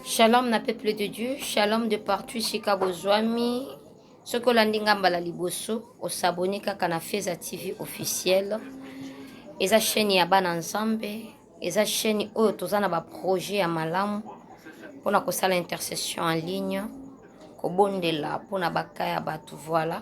Shalom na peuple de Dieu, shalom de partout esika bozwami. Soki olandi nga mbala liboso, osabone kaka na Feza TV officiel. Eza chaîne ya bana Nzambe, eza chaîne oyo toza na ba projet ya malamu pona kosala intercession en ligne, kobondela pona baka ya batu voilà.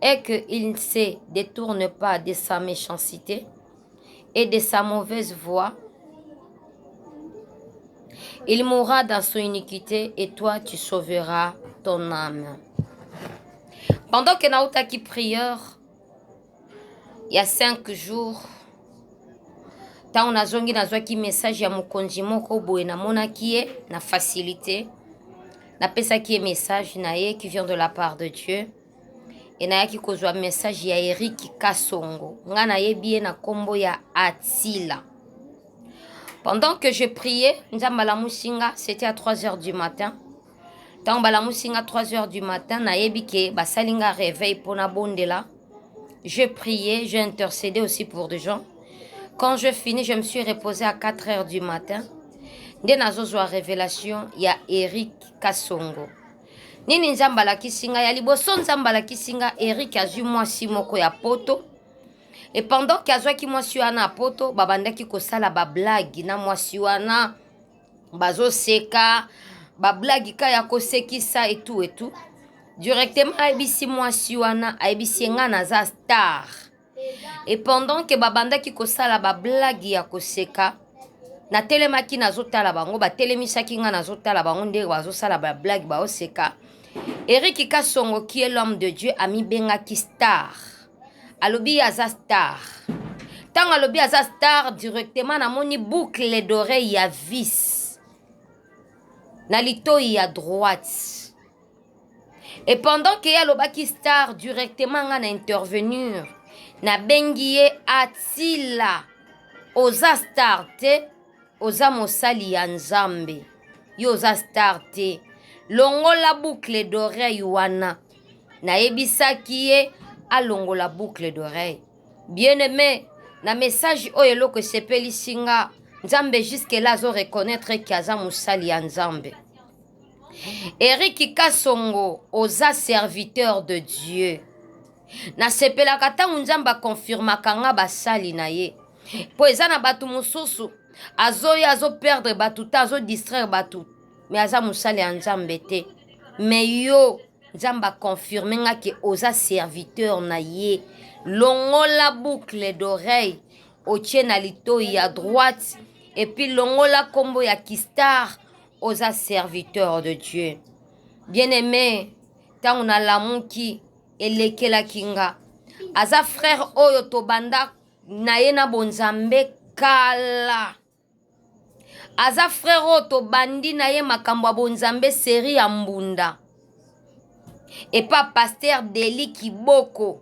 est que il ne se detourne pas de sa mechancite et de sa mauvaise voie il mourra dans son iniquité et toi tu sauveras ton âme pendant que nautaki prieur ya 5 jours ntango nazongi nazwaki message ya mokonzi moko boye namonaki ye na facilité napesaki ye message na ye qui vient de la part de dieu e nayaki kozwa message ya eric kasongo ngai nayebi ye na nkombo ya atila pendant que je priais nzambe alamusi nga c'était à 3 heures du matin ntango balamusi nga 3 heures du matin nayebi ke basali nga réveil mpo nabondela J'ai prié, j'ai intercédé aussi pour des gens. Quand je finis, je me suis reposée à 4 heures du matin. Nde nazozwa révélation ya Eric Kasongo. Nini Nzambe alakisi nga ya liboso Nzambe alakisi nga Eric azwi mwasi moko ya poto. Et pendant qu'azwaki mwasi wana ya poto, babandaki kosala ba blague na mwasi wana. bazoseka bablagi ka ya kosekisa etu etu directement ayebisi mwasi wana ayebisi ye ngai naza star et pendant ke babandaki kosala bablagi ya koseka natelemaki nazotala bango batelemisaki ngai nazotala bango ndenge bazosala bablagi baoseka eriki kasongo kie l'homme de dieu amibengaki star alobi ye aza star ntango alobi aza star directement namoni boucle d'oreille ya vis na litoi ya droite et pendant ke ye alobaki star directement nga na intervenir nabengi ye atila oza star te oza mosali ya nzambe yo oza star te longola boucle d'oreille wana nayebisaki ye alongola boucle d'oreille bien aime na message oyo eloko esepelisi nga nzambe jusque là azo reconnaître ke aza mosali ya nzambe eriki kasongo oza serviteur de dieu nasepelaka ntango nzambe akonfirmaka nga basali na ye mpo eza na bato mosusu azoya azoperdre bato ta azodistraire bato mais aza mosali ya nzambe te mais yo nzambe aconfirme nga ke oza serviteur na ye longola boucle d'oreille otie na litoi ya droite epuis longola nkombo ya kistar oza serviteur de dieu bien aime ntango nalamuki elekelaki nga aza frère oyo tobanda na ye na bonzambe kala aza frère oyo tobandi na ye makambo ya bonzambe serie ya mbunda epa paster deli kiboko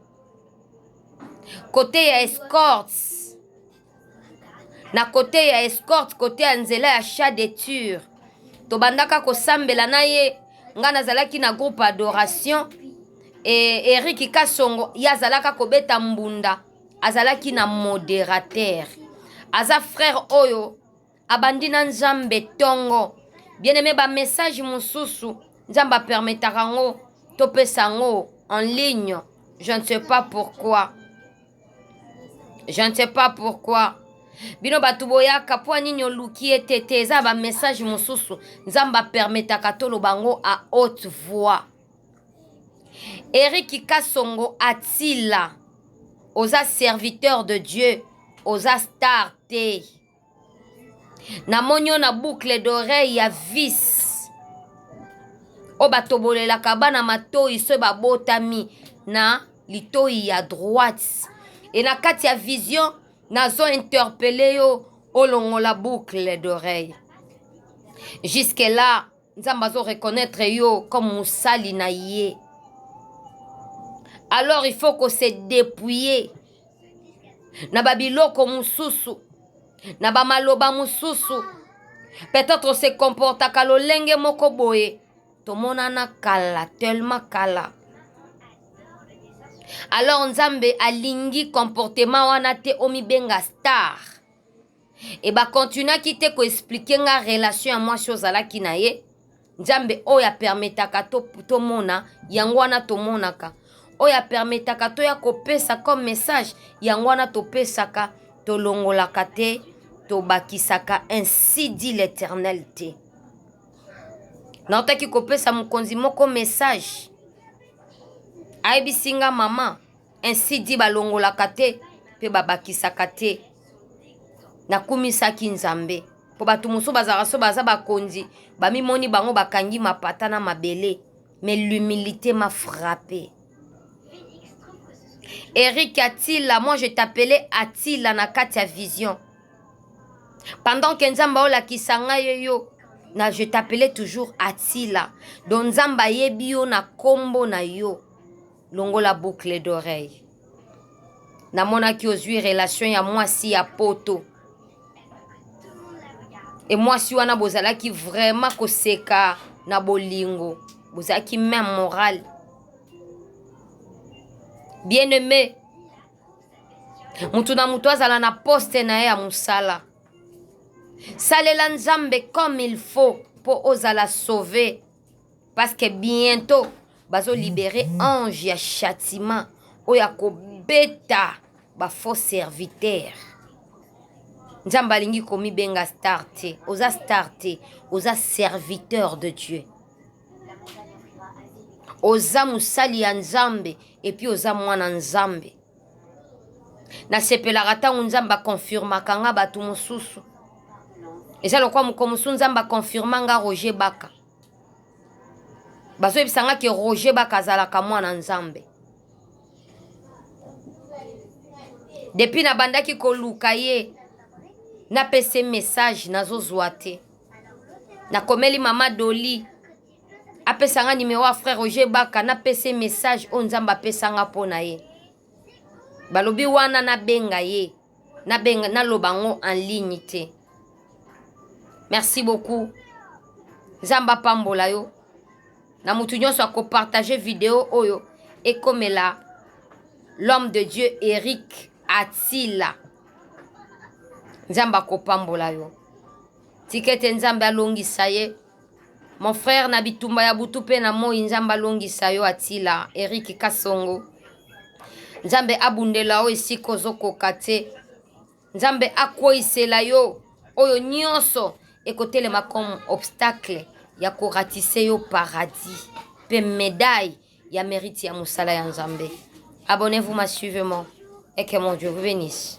kote ya escorte na kote ya escorte kote ya nzela ya chat de ture tobandaka kosambela na ye ngai nazalaki na groupe adoration e, eriki kasongo ye azalaka kobeta mbunda azalaki na moderateur aza frère oyo abandi na nzambe tongo bien aime bamessage mosusu nzambe apermetaka yango topesa yango en ligne je ne sais pas pourquoi je ne sais pas pourquoi bino bato boyaka mpo nini oluki ete te eza bamessage mosusu nzambe apermetaka toloba yango a haute voix Eric Kasongo Atila oza serviteur de Dieu oza star te namoni yo na boucle d'oreille ya vis oyo batobolelaka bana matoyi soki babotami na litoyi ya droite e na kati ya vision nazo interpele yo olongola boucle d'oreille jusque là nzambe azo reconnaitre yo comme mosali na ye alors il faut ko se dépouiller na babiloko mosusu na bamaloba mosusu peut-être se comportaka lolenge moko boye tomonana kala tellement kala alors nzambe alingi comportement wana te omibenga star e ba continuaki te ko expliquer nga relation ya mwasi oyo ozalaki na ye nzambe oyo apermetaka tomona to yango wana tomonaka oyo apermetaka toya kopesa comme message yango wana topesaka tolongolaka te tobakisaka ainsi dit l'éternel te nautaki kopesa mokonzi moko message ayebisi nga mama Ainsi dit balongolaka te mpe babakisaka te. Nakumisaki Nzambe mpo bato mosusu bazalaka so baza bakonzi, bamimoni bango bakangi mapata na mabele, mais l'humilité m'a frappe. Eric Atila, moi je t'appelais Atila na kati ya vision. Pendant que Nzambe aolakisa ngai yo, na je t'appelais toujours Atila. Donc Nzambe ayebi yo na kombo na yo. longola boucle d'oreille namonaki ozwi relation ya mwasi ya poto e mwasi wana bozalaki vraiment koseka na bolingo bozalaki meme morale bien aime moto na moto azala na poste na ye ya mosala salela nzambe comme il faut mpo ozala sauve parce que bientôt bazo libérer ange ya châtiment oyo akobeta ba faux serviteur nzambe alingi komibenga star te oza star te oza serviteur de dieu oza mosali ya nzambe epuis oza mwana nzambe Nasepelaka ntango Nzambe a confirmaka nga bato mosusu. Eza lokola mokolo mosusu Nzambe a confirma nga Roger Baka. Bazoyebisa nga ke Roger Baka azalaka mwana Nzambe. Depuis nabandaki koluka ye, napesi ye message nazozwa te. Nakomeli mama Dolly. apesa nga numero ya frère roger baka napesa ye message oyo nzambe apesa nga mpo na ye balobi wana nabenga ye nabenga naloba yango en ligne te merci beaucoup nzambe apambola yo na moto nyonso akopartage video oyo ekomela l'homme de dieu eric atila nzambe akopambola yo tika ete nzambe alongisa ye Mon frère na bitumba ya butu pe na moyi nzambe alongisa yo atila Eric Kasongo nzambe abundela yo esika ozokoka te nzambe akweisela yo oyo nyonso ekotelema comme obstacle ya koratise yo paradis pe medaille ya merite ya mosala ya nzambe abonnez-vous ma suivez moi et que mon Dieu vous bénisse